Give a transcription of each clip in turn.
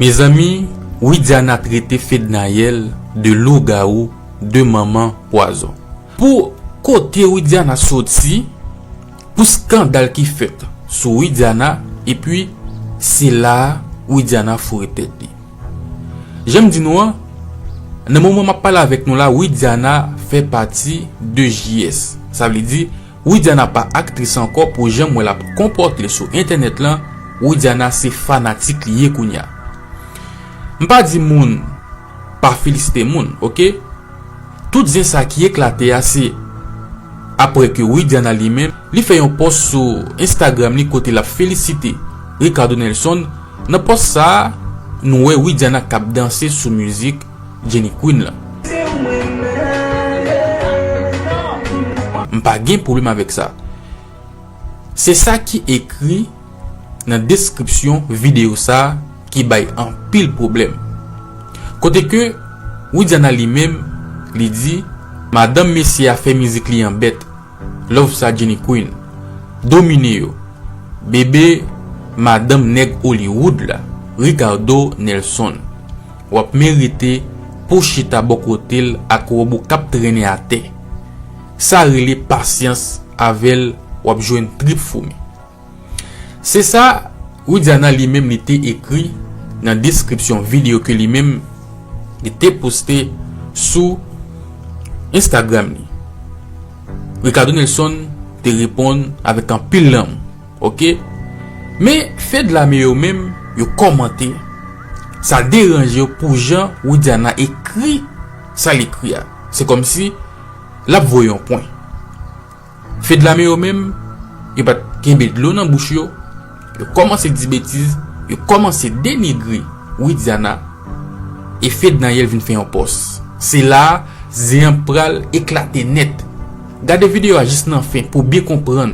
Mezanmi widiana trete fednaelle de lougarou de manman pwazon. Pou kote widiana soti pou skandal ki fèt sou widiana epi se la widiana foure tèt li janm di nou an nan moman map pale avèk nou la widiana fè pati de JS sa vle di Widiana pa aktris ankò pou janm wè lap konpòtel sou entènèt lan widiana se fanatik li ye kounya m pa di moun pa felisite moun ok tout zen sa ki eklate a se aprè ke widiana li menm li fè yon pòs sou instagram li kote lap felisite Ricardo Nelson nan pòs sa nou wè widiana kap danse sou mizik Jenny Queen lan. M pa gen pwoblèm avèk sa. Se sa ki ekri nan deskripsyon videyo sa ki bay anpil pwoblèm. Kote ke Widiana li menm li di madanm mesye a fè mizik li an bèt. Love sa Jenny Queen. Domine yo. Bebe madanm nèg Hollywood la. Ricardo Nelson. Wap merite pou chita bo kote l ak robo kap trennen atè. Sa rele pasyans avèl wap jwenn trip foumi. Se sa Widiana li menm li te ekri nan deskripsyon video ke li menm li te poste sou Instagram li. Ricardo Nelson te reponn avèk anpil lanmou. Ok men fedlame yo menm yo kòmante sa deranje yo pou jan widiana ekri sa l ekri a se kòmsi lap voye yon pwen fedlame yo menm yo pat kenbe dlo nan bouch yo yo kòmanse di betiz yo kòmanse denigre widiana e fednaelle vin fè yon pòs se la a zen an pral eklate nèt gade video a jis nan fen pou w byen konprann.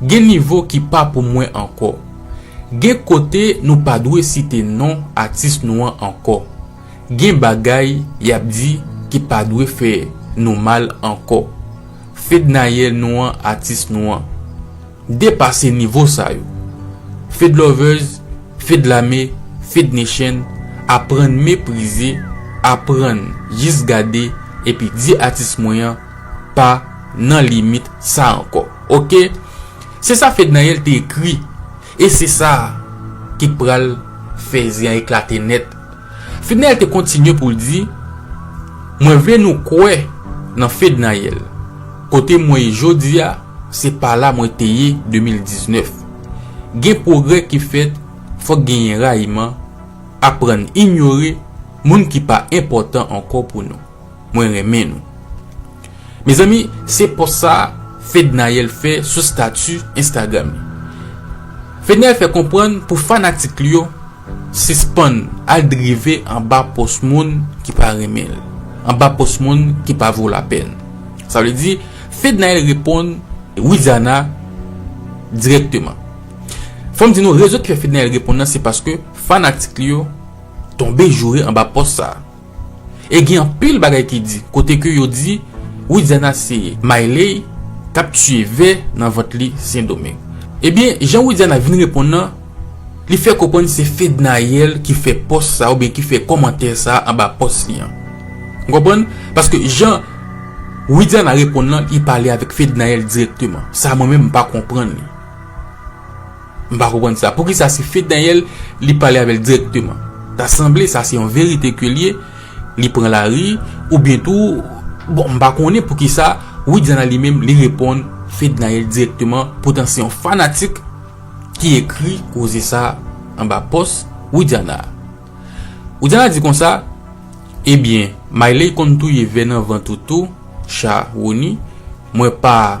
Gen nivo ki pa pou mwen ankò. Gen kote nou pa dwe site non atis nou an ankò. Gen bagay y ap di ki pa dwe fè nou mal ankò. Fednaelle nou an atis nou an. Depase nivo sa yo. Fedlovers, Fedlame, Fednation aprann meprize, aprann jis gade epi di atis mwen an pa nan limit sa ankò ok se sa fednaelle te ekri e se sa ki pral fè zen an eklate nèt fednaelle te kontinye poul di mwen vle nou kwè nan fednaelle kote mwen ye jodia se pa la mwen te ye 2019 gen pwogrè ki fèt fòk genyen rayiman aprann inyore moun ki pa enpòtan ankò pou nou. Mwen renmen nou. Mezanmi se pòs sa Fednaelle fè sou stati Instagram li. Fednaelle fè konprann pou fanatik li yo sispann al drive anba pòs moun ki pa renmen l, anba pòs moun ki pa vo lapèn. Sa vle di Fednaelle reponn Widiana dirèkteman. Fò m di nou rezon ki fè Fednaelle reponn nan se paske fanatik li yo tonbe joure anba pòs sa. E gen anpil bagay ki di kote ke yo di Widiana se Miley kap tiye vè nan vant li Sendomeng. Ebyen jan Widiana vin reponn nan li fè konprann se Fednaelle ki fè pòs sa oubyen ki fè kòmantè sa anba pòs li an. Ou konprann? Paske jan Widiana reponn lan li pale avèk Fednaelle dirèkteman. Sa mwen menm m pa konprann li. M pa konprann sa. Poukisa se Fed Daniel li pale avèl direkteman? Ta sanble sa se yon verite ke l ye, li pran lari, oubyen tou, bon m pa konnen poukisa Widiana li menm li reponn Fed Daniel direkteman, poutan se yon fanatik ki ekri koze sa anba pòs Widiana a. Widiana di konsa, Ebyen, Miley konn touye vè nan vant ou tou, Sharony, mwen pa.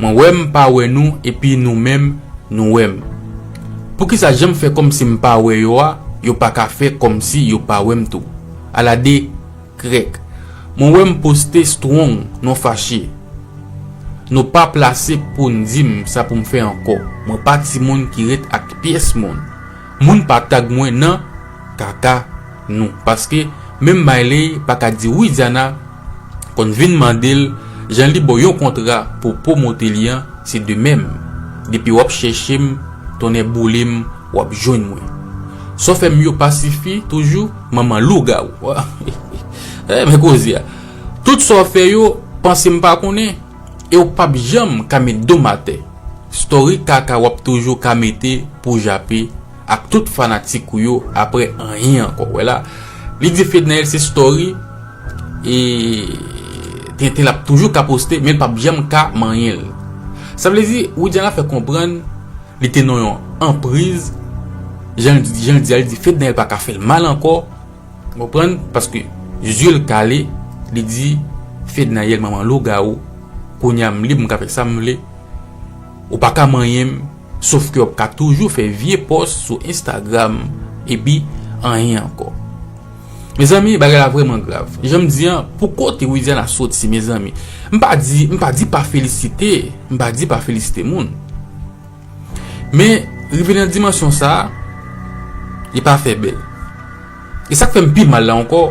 Mwen wè m pa wè nou epi nou menm nou wè m. Poukisa jan m fè kòmsi m pa wè yo a, yo pa ka fè kòmsi yo pa wè m tou? Ala de krèk. Mwen wè m poste strong non fache. Nou pa plase pou n di m sa pou m fè ankò. Mwen pa timoun ki ret ak pyès moun. Moun pa tag mwen nan kaka nou. Paske menm Miley pa ka di wi Diana konn vin mande l jan li bo yon kontra pou promote li an se de mèm depi wap chèche m tonnè boule m wap jwenn mwen sòfè m yo pa sifi toujou manman lougawou waww men koze a tout sa w fè yo panse m pa konnen e w pap janm ka met do m atè story kaka wap toujou ka mete pou jape ak tout fanatik ou yo aprè anyen ankò wè la li di fednaelle se story. E tenten l ap toujou ka poste men l pap janm ka manyen l. Sa vle di Widiana fè konprann li te nan yon anpriz jan l di a li di fed dèyè l pa ka fè l mal ankò ou konprann paske zye l kale li di fedna yè l manman lougawou kounye a m lib m ka fè sa m vle ou pa ka manyen m sof ke w ap ka toujou fè vye pòs sou instagram epi anyen ankò. Mezanmi bagay la vreman grav janm di an pou kote widiana soti mezanmi m pa di m pa di pa felisite m pa di pa felisite moun men rive nan dimansyon sa li pa fè bèl e sak fèm pi mal la ankò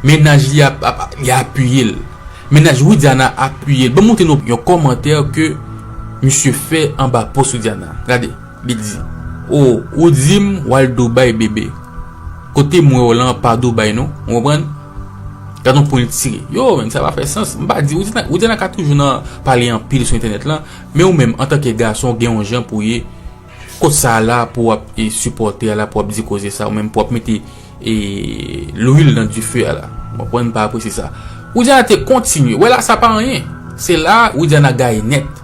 mennaj li ap ap li apiyel mennaj widiana apiyel banm montre nou yon kòmantè ke misye fè anba post widiana gade. Li di, Oh, ou di m w al Dubai bebe. Kote m wè w lan pa Dubai non. Ou konprann? Gad on pwen l tire. Yo, men, sa pa fè sans. M pa di, ou di nan, ou di nan ka toujou nan pale anpil sou entènèt lan, men ou menm antanke gason ou gen on jan pou w ye. Kot sa a la pou w ap e sipòte a la pou w ap di koze sa a ou menm pou w ap mete e lwil nan dife a la. Ou konprann? M pa apresye sa. Widiana te kontinye. Wè la sa pa anyen. Se la a Widiana gaye nèt.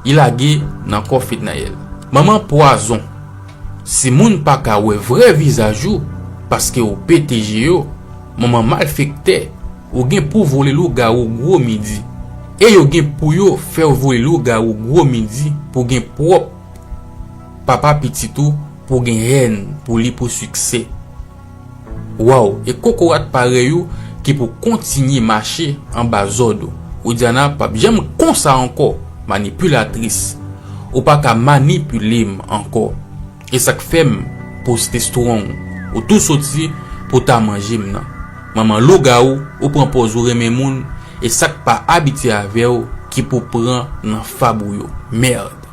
Li lage nan kò Fednaelle. Manman pwazon. Si moun pa ka wè vrè vizaj ou paske ou pete je yo, manman malfektè, ou gen pou vole lougawou gwo midi. E yo gen pou yo fè w vole lougawou gwo midi pou gen pwòp papa pitit ou pou gen hèn pou li pou siksè. Waww e kokorat parèy ou ki pou kontinye mache anba zòd ou widiana pap janm k konsa ankò manipulatrice ou paka manipulem ankò esak fèm poste strong ou tou soti pou ta manjem nan manman lougawou ou pran pòz ou renmen moun esak pa abitye avèw ki pou pran nan fab ou yo merd.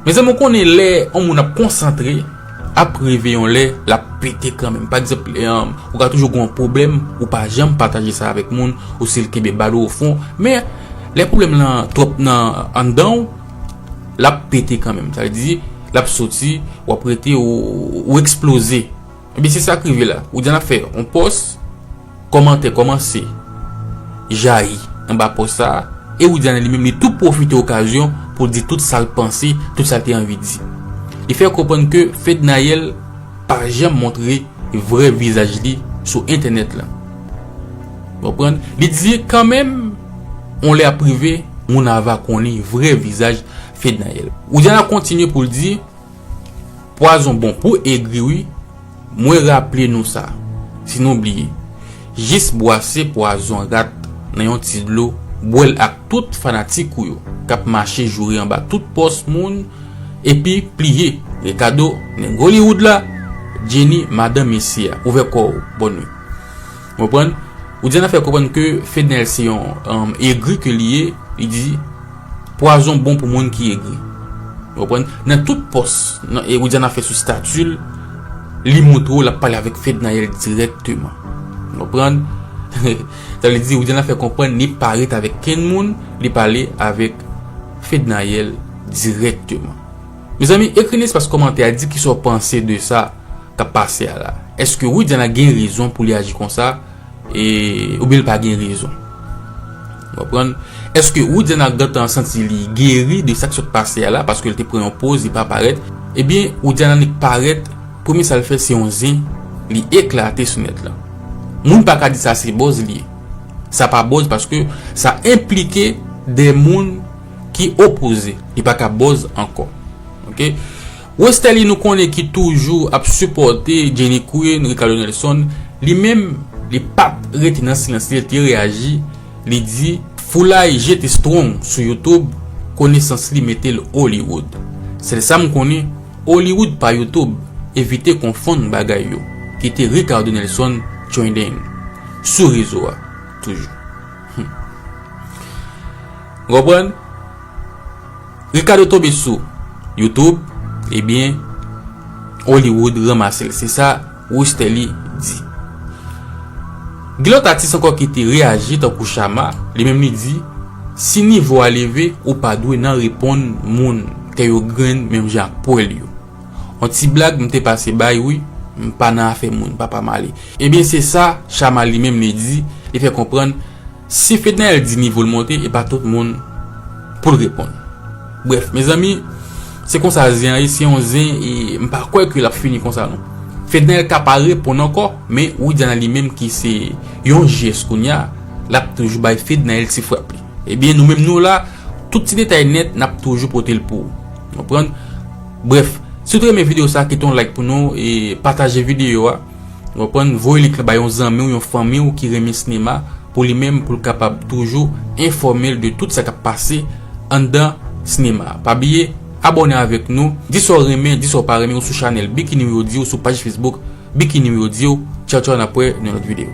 Mezanmi ou konnen lè yon moun ap konsantre ap rive yon lè lap pete kanmenm pa egzanp ou ka toujou gen yon pwoblèm ou pa janm pataje sa avèk moun ou sil kenbe bal ou ofon men lè pwoblèm lan twòp nan anndanw lap pete kanmenm sa vle di lap soti wap rete ou eksploze. Ebyen se sak rive la. Ou diyan lap fè yon pòs, kòmantè kòmanse jayi anba pòs sa, e Widiane li menm li tou pwofite okazyon pou l di tout sa l panse, tout sa l te anvi di. Li fè konprann ke Fednaelle pa janm montre vrè vizaj li sou entènèt lan. Ou konprann? Li di kan menm yon lè ap rive moun ava konnen vrè vizaj Fednaelle. Widiana kontinye pou l di. Pwazon bon pou egri wi mwen raple nou sa si nou bliye jis bwase pwazon rat nan yon ti dlo bwèl ak tout fanatik ou yo kap mache joure anba tout pòs moun epi pliye Ricardo nèg Hollywood la Jenny madan mesye a ouvè kòw bòn nuit ou konprann ou di anafè konprann ke Fednel se yon egri ke li ye li di. Pwazon bon pou moun ki egri. Ou konprann? Nan tout pòs, nan e Widiana fè sou stati l, li montre w l ap pale avèk Fednaelle dirèkteman. Ou konprann? Sa vle di Widiana fè konprann li pa ret avèk kenn moun, li pale avèk Fednaelle dirèkteman. Mezanmi, ekri nan espas kòmantè a, di kisa w panse de sa k ap pase a la. Èske Widiana gen rezon pou li aji konsa? E ou byen l pa gen rezon. Ou konprann? Eske Roudiana gentan santi li geri de sa k sot pase a la paske l te pran yon poz li pa parèt? E byen Roudiana nik parèt, premye sa l fè se yon zen li eklate sou nèt lan. Moun pa ka di sa se bòz li ye. Sa pa bòz paske sa enplike de moun ki opoze. Li pa ka bòz ankò. Ok. Westerlie nou konnen ki toujou ap sipòte Jenny Queen, Ricardo Nelson, li menm li pat rete nan silans li, li te reyaji, li di, Foulay jete Strong sou YouTube, konesans li mete l Hollywood. Sèl sa m konnen, Hollywood pa YouTube, evite konfonn bagay yo, kite Ricardo Nelson trending sou rezo a toujou. Humm. Ou konprann? Ricardo tonbe sou YouTube ebyen Hollywood ranmasel se sa Rusterlie di. Gen lòt atis ankò ki te reyaji tankou Shama, li menm li di si nivo a leve ou pa dwe nan reponn moun kè yo grenn menm jan ak pwèl yo. On ti blag m te pase bay wi, m pa nan afè moun papa m ale. Ebyen se sa Shama li menm li di, li fè konprann. Si Fednaelle di nivo l monte e pa tout moun pou l reponn. Brèf mezanmi se konsa zen an ye se yon zen e m pa kwè ke l ap fini konsa non. Fednaelle ka pa reponn ankò men Widiana li menm ki se yon jès kounya l ap toujou bay Fednaelle ti frap li. Ebyen nou menm nou la tout ti detay nèt n ap toujou pote l pou ou. Brèf si w te renmen videyo sa kite yon like pou nou e pataje videyo a. Ou konprann, voye li ka bay yon zanmi w, yon fanmi w ki renmen sinema pou li menm pou l kapab toujou enfòme l de tout sa k ap pase anndan sinema a. Pa bliye abòne avèk nou, di sa w renmen, di sa w pa renmen ou sou chanèl Bikini Wi Audio, sou paj Facebook Bikini Wi Audio. Tchaw tchaw n ap wè nan yon lòt videyo.